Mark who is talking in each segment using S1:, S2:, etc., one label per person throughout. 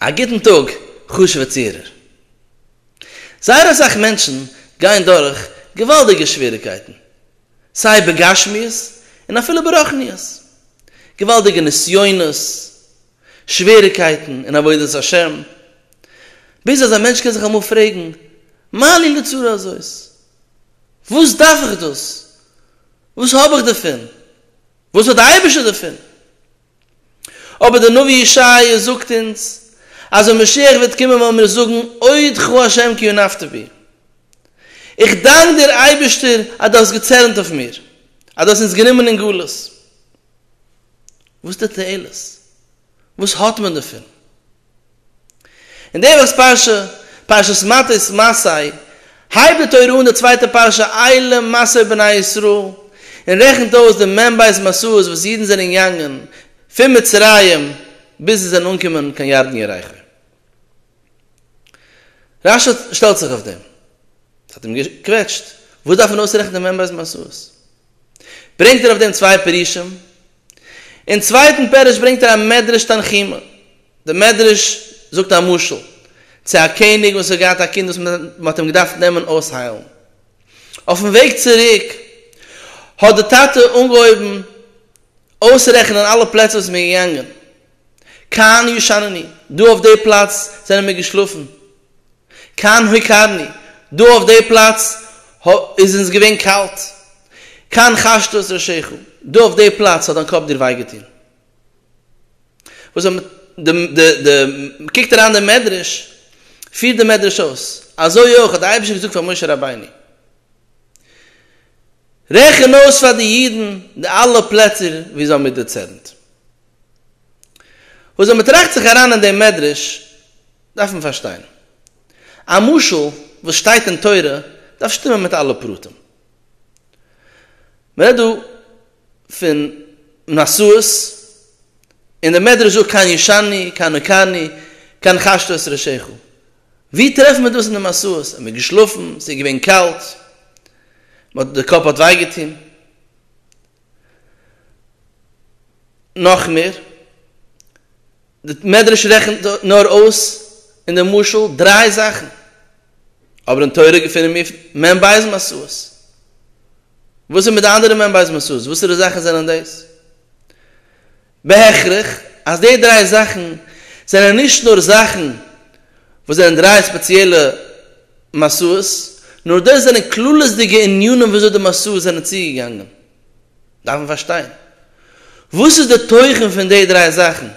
S1: א גוטן טאג חשוב'ע צוהערער. זייער אסאך מענטשן גייען דורך געוואלדיגע שוועריגקייטן, סיי בגשמיות און אפילו ברחניות. געוואלדיגע נסיונות, שוועריגקייטן אין עבודת השם. ביז אז א מענטש קען זיך אמאל פרעגן, מה לי לצרה הזאת? וואס דארף איך דאס? וואס האב איך דערפון? וואס האט די אייבערשטער דערפון? אבער דער נביא ישעיה זאגט אונז אז ווען משיח וועט קומען וועלן מיר זאגן אודך ה' כי אונפת בי. איך דאנק דיר אייבערשטער אז דו האסט געצערנט אויף מיר, אז דו האסט אונז גענומען אין גלות. וואס די תועלת? וואס האט מען דערפון? אין די וואכ'ס פרשה, פרשת מטות מסעי, הייבט די תורה אן די צווייטע פרשה עילה מסעי בני ישראל, און רעכנט אויס די מ ב מסעות וואס אידן זענען געגאנגען פון מצרים ביז זיי זענען אנגעקומען קיין ירדן יריחו. רשע שטעלט זיך אויף דעם, ס'האט אים געקוועטשט, וואס דארף מען אויסרעכנען די מ ב מסעות? ברענגט ער אויף דעם צוויי פירושים, אין צווייטן פירוש ברענגט ער א מדרש תנחומא, די מדרש זאגט א משל צו א קעניג וואס האט געהאט א קינד וואס מען האט אים געדארפט נעמען אויסהיילן, אויפן וועג צוריק האט די טאטע אנגעהויבן אויסרעכענען אלע פלעצער וואס מען איז געגאנגען, כאן ישנני, דא אויף די פלאץ זענען מיר געשלאפן. כאן הוקרני, דא אויף די פלאץ איז אונז געווען קאלט. כאן חשת את ראשך, דא אויף די פלאץ האט דיין קאפ דיר וויי געטון. קוקט אריין דער מדרש, פירט דער מדרש אויס, אזוי אויך האט דער אייבערשטער געזאגט פאר משה רבינו, רעכן אויס פאר די אידן די אלע פלעצער וואו זיי האבן מיט דערצערנט. וואס ווען מ'טראכט זיך אריין אין דעם מדרש דארף מען פארשטיין. א משל וואס שטייט אין תורה דארף שטימען מיט אלע פרטים. מ'רעדט דא פון נשאות, און דער מדרש זאגט כאן ישני, כאן נקני, כאן חשת את ראשיך. וואו טרעפן מיר דאס אין די משאות? האט מען געשלאפן? ס'איז געווען קאלט? מ'האט, די קאפ האט וויי געטון? נאך מער, די מדרש רעכנט נאר אויס אין די משל דריי זאכן, אבער אין תורה געפינען מיר מ' בית משאות, וואס איז מיט די אנדערע מ' בית משאות? וואסערע זאכן זענען דאס? בהכרח אז די דריי זאכן זענען נישט נאר זאכן וואס זענען דריי ספעציעלע משאות, נאר דאס זענען כללית'דיגע ענינים ווי אזוי די משאות זענען צוגעגאנגען. דארף מען פארשטיין וואס איז די תוכן פון די דריי זאכן,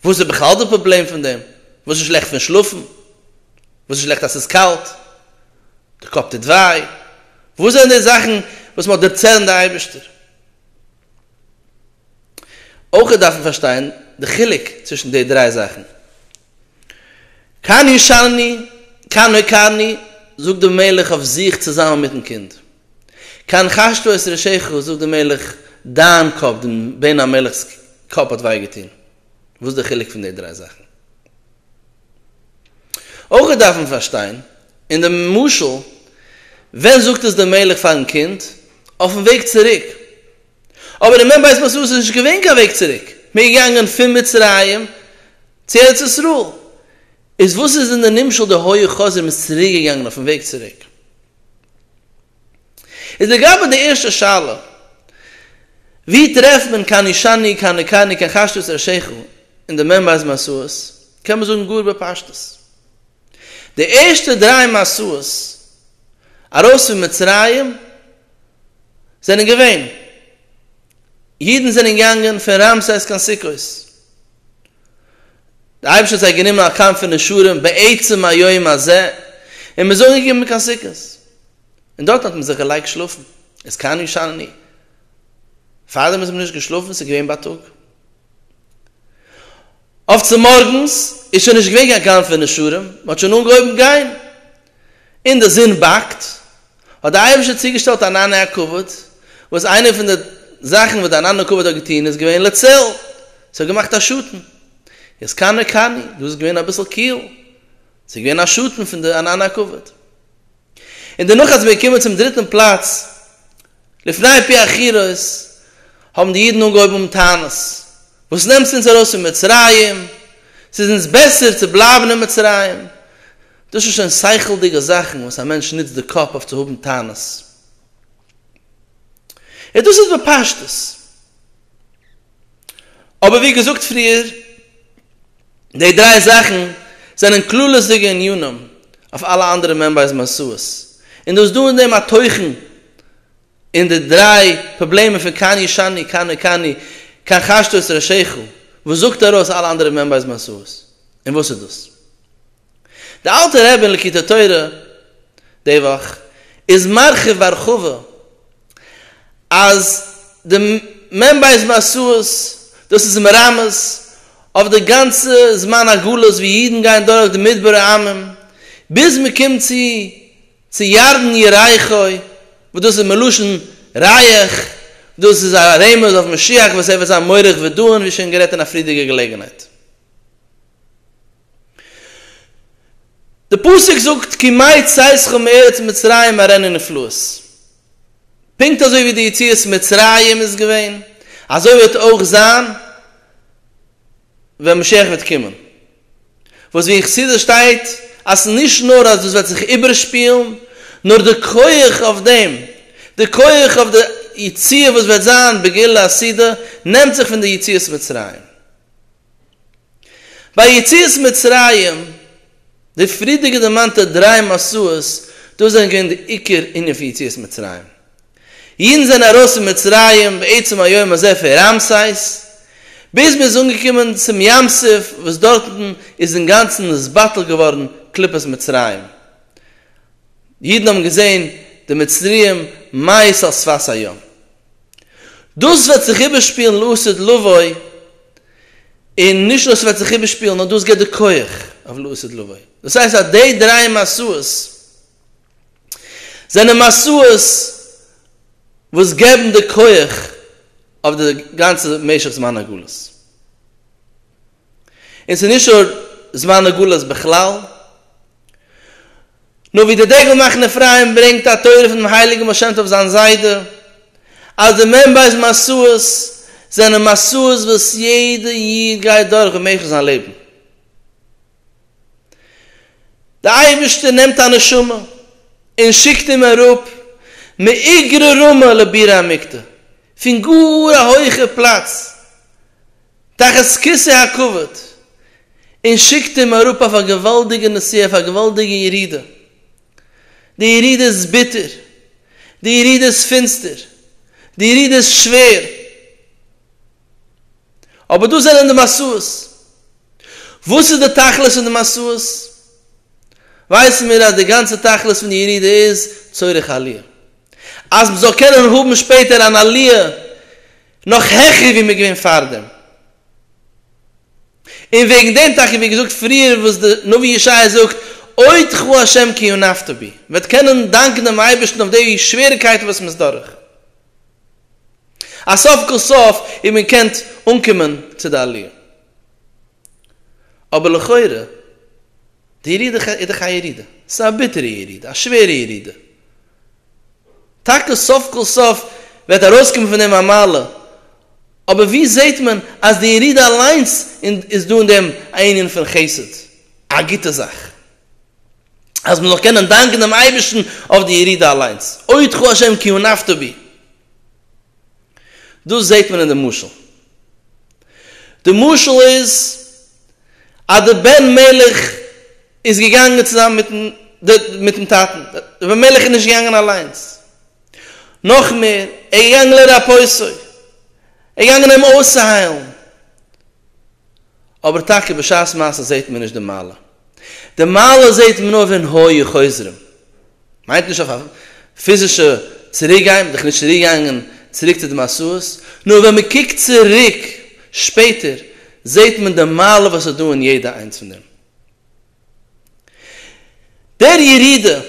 S1: וואס איז בכלל די פראבלעם פון דעם, וואס איז שלעכט פון שלאפן, וואס איז שלעכט אז ס'איז קאלט, די קאפ טוט וויי, וואס זענען די זאכן וואס מ'האט דערצעלן די אייבערשטער. אויך דארף מען פארשטיין די חילוק צווישן די דריי זאכן, קני שני קנה קני, זאגט דער מלך אויף זיך צוזאמען מיטן קינד. קן חשטו את ראשך, זאגט דער מלך, דיין קאפ, דעם בן המלך'ס קאפ האט וויי געטון. וואס איז דער חילוק פון די דריי זאכן? אויך דארף מען פארשטיין, אין דעם משל, ווען זאגט עס דער מלך פארן קינד? אויפן וועג צוריק, אבער אין מ' בית מסעו איז נישט געווען קיין וועג צוריק, מען איז געגאנגען פון מצרים צו ארץ ישראל, איז וואס איז אין די נמשל די היה חזיר מען איז צוריק געגאנגען אויפן וועג צוריק? איז לגבי די ערשטע שאלה, ווי טרעפט מען קיין אישני קיין ניקני קיין חשטות ערשיכו אין די מ' בית מסעות, קען מען זאגן גאר בפשטות, די ערשטע דריי מסעות ארויס פון מצרים זענען געווען. אידן זענען געגאנגען פון רעמסס קיין סוכות. דער אייבערשטער האט זיי גענומען א קאמף פון נשרים בעצם היום הזה, און מ'איז אנגעקומען קיין סוכות, און דארטן האט מען זיך געלייגט שלאפן, איז כאן ישנני, פארדעם איז מען נישט געשלאפן, ס'איז געווען בייטאג. אויף צו מארגנס איז שוין נישט געווען קיין קאמף פון נשרים, מ'האט שוין אנגעהויבן גיין, און די זון באקט. האט דער אייבערשטער צוגעשטעלט אן ענני הכבוד, וואס איינע פון די זאכן וואס דער ענני הכבוד האט געטון איז געווען לצל, ס'האט געמאכט א שאטן, איז קאני קאני, דא איז געווען אביסל קיל, ס'איז געווען א שאטן פון די ענני הכבוד. און דערנאך אז מ'איז געקומען צום דריטן פלאץ, לפני פי החירות, האבן די אידן אנגעהויבן האבן טענות, וואס נעמסטו אונז ארויס פון מצרים, ס'איז אונז בעסער צו בלייבן אין מצרים, דאס איז שוין שכל'דיגע זאכן וואס א מענטש נוצט די קאפ אויף צו האבן טענות. און דאס איז בפשטות. אבער ווי געזאגט פריער, די דריי זאכן זענען כללות'דיגע ענינים אויף אלע אנדערע מעמבער'ס משאות. און דאס דא אין דעם א תוכן אין די דריי פראבלעמען פון כאן ישני כאן נקני כאן חשתו את ראשיך וואס זאגט ארויס אלע אנדערע מעמבער'ס משאות. און וואס איז דאס? די אלטע רבי אין לקוטי התורה די וואך איז מרחיב בהרחבה אז די מ ב מסעות דאס איז מרמז אויף די גאנצע זמן הגלות ווי אידן גייען דורך די מדברי עמים ביז מען קומט צו צו ירדן ירחו וואס דאס איז מלשון רייך דאס איז א רמז אויף משיח וואס ער וועט זיין מורך ודוען ווי שוין גערעדט אין א פריערדיגע געלעגנהייט. די פסוק זאגט כי מה יצאתך מארץ מצרים ארענע נפלאות, פונקט אזוי ווי די יציאת מצרים איז געווען, אזוי וועט אויך זיין ווען משיח וועט קומען, וואס ווי אין חסידות שטייט אז נישט נאר אז דאס וועט זיך איבערשפילן, נאר די כח אויף דעם, די כח אויף די יציאה וואס וועט זיין בגאולה עתידה, נעמט זיך פון די יציאת מצרים. ביי יציאת מצרים, די פריערדיגע דערמאנטע דריי מסעות, דאס זענען געווען די עיקר ענין פון יציאת מצרים. אידן זענען ארויס פון מצרים בעצם היום הזה פון ראמסייס, ביז מען איז אנגעקומען צום ים סוף וואס דארטן איז אינגאנצן נתבטל געווארן קליפת מצרים, אידן האבן געזען די מצריים מייעס על שפת הים. דאס וועט זיך איבערשפילן לעתיד לבוא, און נישט נאר ס'וועט זיך איבערשפילן, נאר דאס גיבט די כח אויף לעתיד לבוא. דאס הייסט אז די דריי מעשיות זענען מעשיות וואס געבן די כח אויף די גאנצע משך זמן הגלות. און ס'איז נישט אור זמן הגלות בכלל, נאר ווי דער דגל מחנה אפרים ברענגט א תורה פונעם הייליגן בעל שם טוב זיין זיידע, אז די מ ב מסעות זענען מסעות וואס יעדע איד גייט דורך במשך זיין לעבן. דער אייבערשטער נעמט א נשמה און שיקט אים אראפ מאיגרא רמא לבירא עמיקתא, פון גאר א הויכער פלאץ, תחת כסא הכבוד, און שיקט אים אראפ אויף א געוואלדיגע נסיעה, אויף א געוואלדיגע ירידה. די ירידה איז ביטער, די ירידה איז פינסטער, די ירידה איז שווער, אבער דאס זענען די משאות. וואס איז די תכלית פון די משאות? ווייסן מיר אז די גאנצע תכלית פון די ירידה איז צורך עליה, אז מ'זאל קענען האבן שפעטער אן עליה נאך העכער ווי מ'איז געווען פארדעם. און וועגן דעם טאקע ווי געזאגט פריער וואס די נביא ישעיה זאגט עוד כ ה' כי אונפת בי, מ'וועט קענען דאנקן דעם אייבערשטן אויף די שוועריקייטן וואס מ'איז דורך, אז סוף כל סוף איז מען געקענט אנקומען צו די עליה. אבער לכאורה, די ירידה איז דאך א ירידה, ס'איז א ביטערע ירידה, א שווערע ירידה, טאקע סוף כל סוף וועט ארויסקומען פון דעם א מעלה, אבער ווי זעהט מען אז די ירידה אליינס איז דא אין דעם א ענין פון חסד, א גוטע זאך אז מען זאל קענען דאנקען דעם אייבערשטן אויף די ירידה אליינס, אודך השם כי הונפת בי, דאס זעהט מען אין די משל, די משל איז אז די בן מלך איז געגאנגען צוזאמען מיטן מיטן טאטן, רבי אלימלך איז נישט געגאנגען אליינס, נאך מער, ער איז געגאנגען לרפאותו, ער איז געגאנגען אים אויסצוהיילן, אבער טאקע בשעת מעשה זעהט מען נישט די מעלה, די מעלה זעהט מען נאר ווען היו חוזרים, מיינט נישט אויף א פיזישע צוריק גיין, מען איז דאך נישט צוריק געגאנגען צוריק צו די מסעות, נאר ווען מען קוקט צוריק שפעטער זעהט מען די מעלה וואס איז דא אין יעדע איינס פון דעם. דער ירידה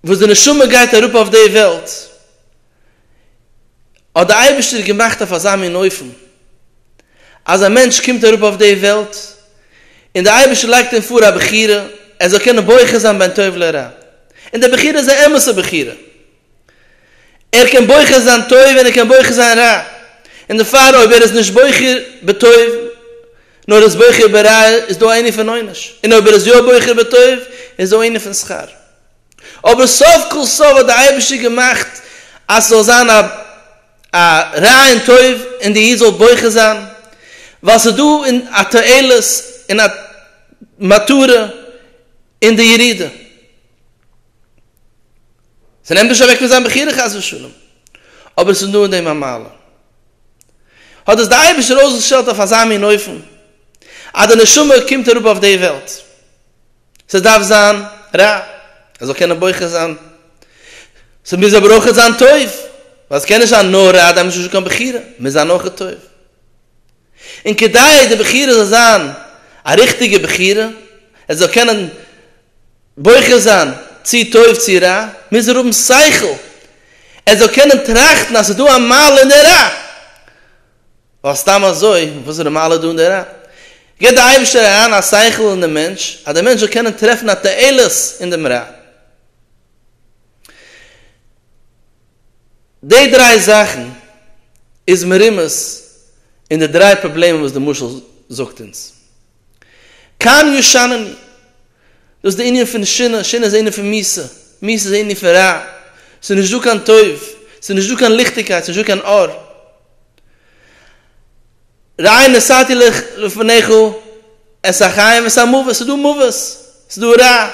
S1: וואס די נשמה גייט אראפ אויף די וועלט האט די אייבערשטער געמאכט אויף אזא מין אופן אז א מענטש קומט אראפ אויף די וועלט און די אייבערשטער לייגט אים פאר א בחירה ער זאל קענען בוחר זיין בין טוב לרע און די בחירה איז א אמת'ע בחירה. ער קען בוחר זיין טוב און ער קען בוחר זיין רע, און דערפאר אויב ער איז נישט בוחר בטוב נאר איז בוחר ברע איז דא א ענין פון עונש, און אויב ער איז יא בוחר בטוב איז דא ענין פון שכר. אבער סוף כל סוף האט דער אייבערשטער געמאכט אז ס'זאל זיין א א רע און טוב און די איד זאל בוחר זיין, ווייל ס'איז דא א תועלת און א מטרה אין די ירידה. ס'נעמט נישט אוועק פון זיין בחירה חס ושלום, אבער ס'איז נאר אין דעם א מעלה. האט דאס דער אייבערשטער אויסגעשטעלט אויף אזא מין אופן, אז די נשמה קומט אראפ אויף די וועלט. ס'דארף זיין רע, ער זאל קענען בוחר זיין. ס'מוז אבער אויך זיין טוב, ווייל ס'קען נישט זיין נאר רע, דאן איז נישטא קיין בחירה, מוז זיין אויך טוב. און כדי די בחירה זאל זיין א ריכטיגע בחירה, ער זאל קענען בוחר זיין צו טוב צו רע, מוז ער האבן שכל ער זאל קענען טראכטן אז ס'איז דא א מעלה אין די רע, ווייל סתם אזוי וואס איז די מעלה דא אין די רע? גיבט די אייבערשטער אריין א שכל אין די מענטש אז די מענטש זאל קענען טרעפן א תועלת אין דעם רע. די דריי זאכן איז מרומז אין די דריי פראבלעמען וואס די משל זאגט אונז. כאן ישננו. דאס איז די ענין פון שינה, שינה איז ענין פון מיסה, מיסה איז ענין פון רע, עס איז נישט דא קיין טוב, עס איז נישט דא קיין ליכטיגקייט, עס איז נישט דא קיין אור. ראי' נשאתי לך לפניך את החיים ואת המוות, עס איז דא מוות, עס איז דא רע.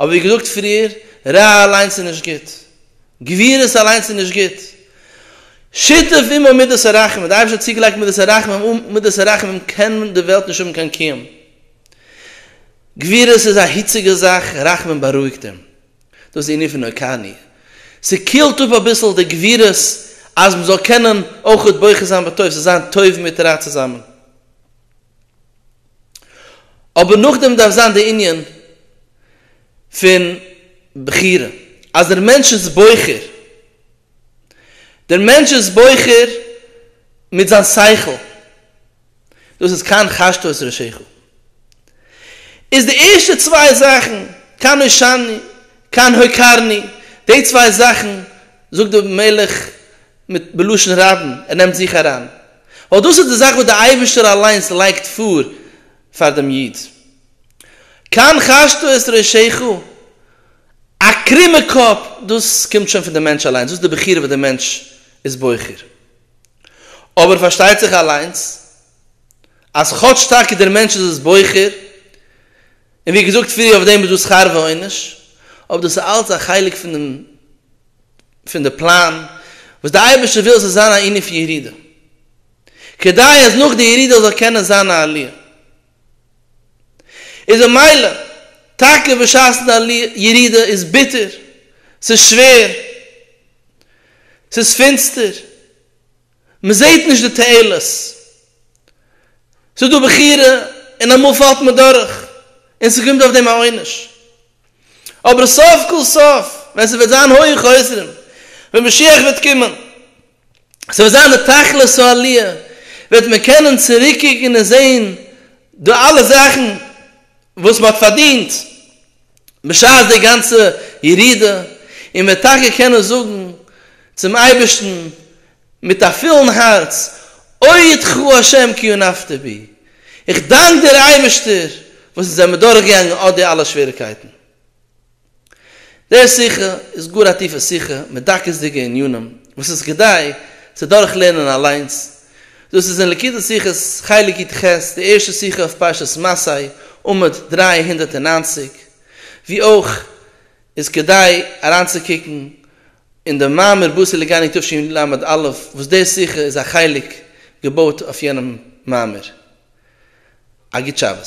S1: אבער ווי געזאגט פריער, רע אליינס איז נישט גוט, גבירות אליינס איז נישט גוט, שותף עמו מידת הרחמים, די אייבערשטער האט צוגעלייגט מידת הרחמים, אן מידת הרחמים קען די וועלט נישט האבן קיין קיום, גבירות איז א היציגע זאך, רחמים בארואיגט אים, דאס איז די ענין פון הוקרני, ס'קילט אפ אביסל די גבירות אז מען זאל קענען אויך בוחר זיין בטוב, ס'זיין טוב מיט רע צוזאמען. אבער נאכדעם דארף זיין די ענין פון בחירה אז דער מענטש איז בוחר, דער מענטש איז בוחר מיט זיין שכל, דאס איז כאן חשת את ראשיך, איז די ערשטע צוויי זאכן כאן הושעני כאן הוקרני, די צוויי זאכן זאגט דער מלך מיט בלשון רבים, ער נעמט זיך אריין, ווייל דאס איז די זאך וואס דער אייבערשטער אליינס לייגט פאר פאר דעם איד. כאן חשטו את ראשיך, א קרומע קאפ, דאס קומט שוין פון דעם מענטש אליינס, דאס איז די בחירה וואס דער מענטש איז בוחר. אבער פארשטייט זיך אליינס אז כאטש טאקע דער מענטש איז עס בוחר, און ווי געזאגט פריער אויף דעם איז דא שכר ועונש, אבער דאס איז אלץ א חלק פון דעם פון די פלאן וואס די אייבערשטער וויל עס זאל זיין א ענין פון ירידה, כדי אז נאך די ירידה זאל קענען זיין א עליה. איז ממילא, טאקע בשעת'ן די עליה, ירידה איז ביטער, ס'איז שווער, ס'איז פינסטער, מען זעט נישט די תועלת, ס'איז דא בחירה און אמאל פאלט מען דורך און ס'קומט אויף דעם א עונש. אבער סוף כל סוף ווען ס'וועט זיין הויעך אויסרום, ווען משיח וועט קומען, ס'וועט זיין די תכלית העלי', וועט מען קענען צוריקקוקן און זען די אלע זאכן וואס מ'האט פארדינט בשעת די גאנצע ירידה, און מ'וועט טאקע קענען זאגן צום אייבערשטן מיט א פולן הארץ, אוי יתכו השם כי אונפת בי, איך דאנק דיר אייבערשטער וואס אונז זעמיר דורך געגאנגען אט די אלע שוועריקייטן. דער שיחה איז גאר א טיפע שיחה מיט דקות'דיגע ענינים וואס איז כדאי צו דורך לערנען אליינס, דאס איז אין ליקוטי שיחות חלק י ט ח, די ערשטע שיחה אויף פרשת מסעי, עמוד דרײַ הונדערט נײַנציק, ווי אויך איז כדאי אריינצוקוקן אין די מאמר בשר לגני תשי ל עמוד א', וואס דער שיחה איז א חלק געבויט אויף יענעם מאמר. א גוט שבת.